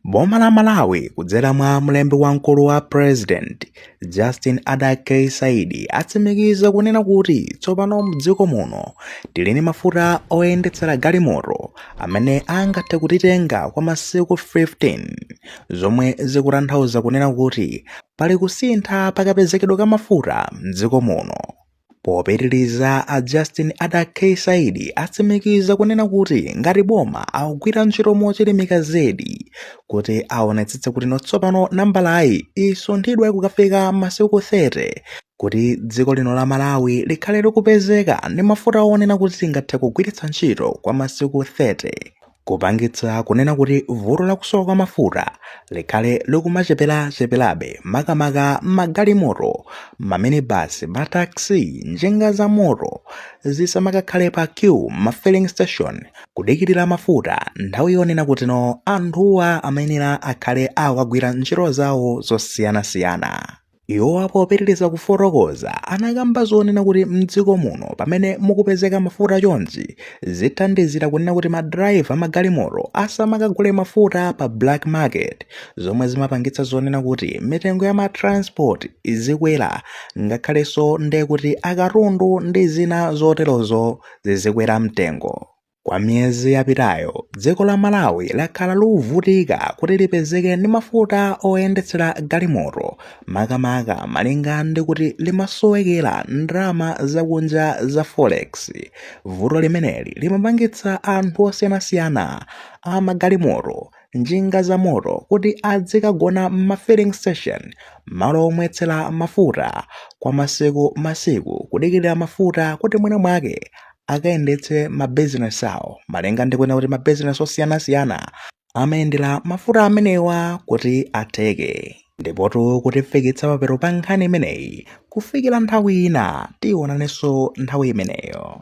Boma la Malawi kudzera mwa mlembi wamkulu wa President Justin Ada K Saidi atsimikiza kunena kuti tsopano mdziko muno tili ndi mafuta oyendetsera galimoto amene angathe kutitenga kwa masiku 15 zomwe zikutanthauza kunena kuti pali kusintha pakapezekedwe ka mafuta mdziko muno. Popitiliza a Justin Ada K Saidi atsimikiza kunena kuti ngati boma akugwira ntchito mochilimika zedi kuti aonetsetse kuti tsopano nambalayi isunthidwe kukafika masiku 30 kuti dziko lino la Malawi likhale likupezeka ndi mafuta onena kuti tingathe kugwiritsa ntchito kwa masiku 30. kupangitsa kunena kuti vuto la kusowa kwa mafuta likhale likumacheperacheperabe makamaka magalimoto maminibasi mataxi njinga za moto zisamakakhale pa queue ma filling station kudikirira mafuta nthawi yonena kutino anthuwa amayenera akhale akukagwira ntchito zawo zosiyanasiyana Iwo popitiriza kufotokoza anakamba zonena kuti m'dziko muno pamene mukupezeka mafuta chonchi zithandizira kunena kuti madrayiva magalimoto asamakagule mafuta pa black market zomwe zimapangitsa zonena kuti mitengo ya matransport izikwera ngakhalenso ndikuti akatundu ndi zina zoterozo zizikwera mtengo. Kwa miyezi yapitayo, dziko la Malawi lakhala likuvutika kuti lipezeke ndi mafuta oyendetsera galimoto, makamaka malinga ndi kuti limasowekera ndalama zakunja za forex. Vuto limeneli limapangitsa anthu osiyanasiyana a magalimoto, njinga zamoto kuti azikagona m'ma filling station, malo omwetsera mafuta, kwa masiku masiku kudikirira mafuta kuti mwinamwake akayendetse mabizinesi awo malinga ndikunena kuti mabizinesi osiyanasiyana amayendera mafuta amenewa kuti atheke ndipotu kutifikitsa pathero pa nkhani imeneyi kufikira nthawi ina tionanenso nthawi imeneyo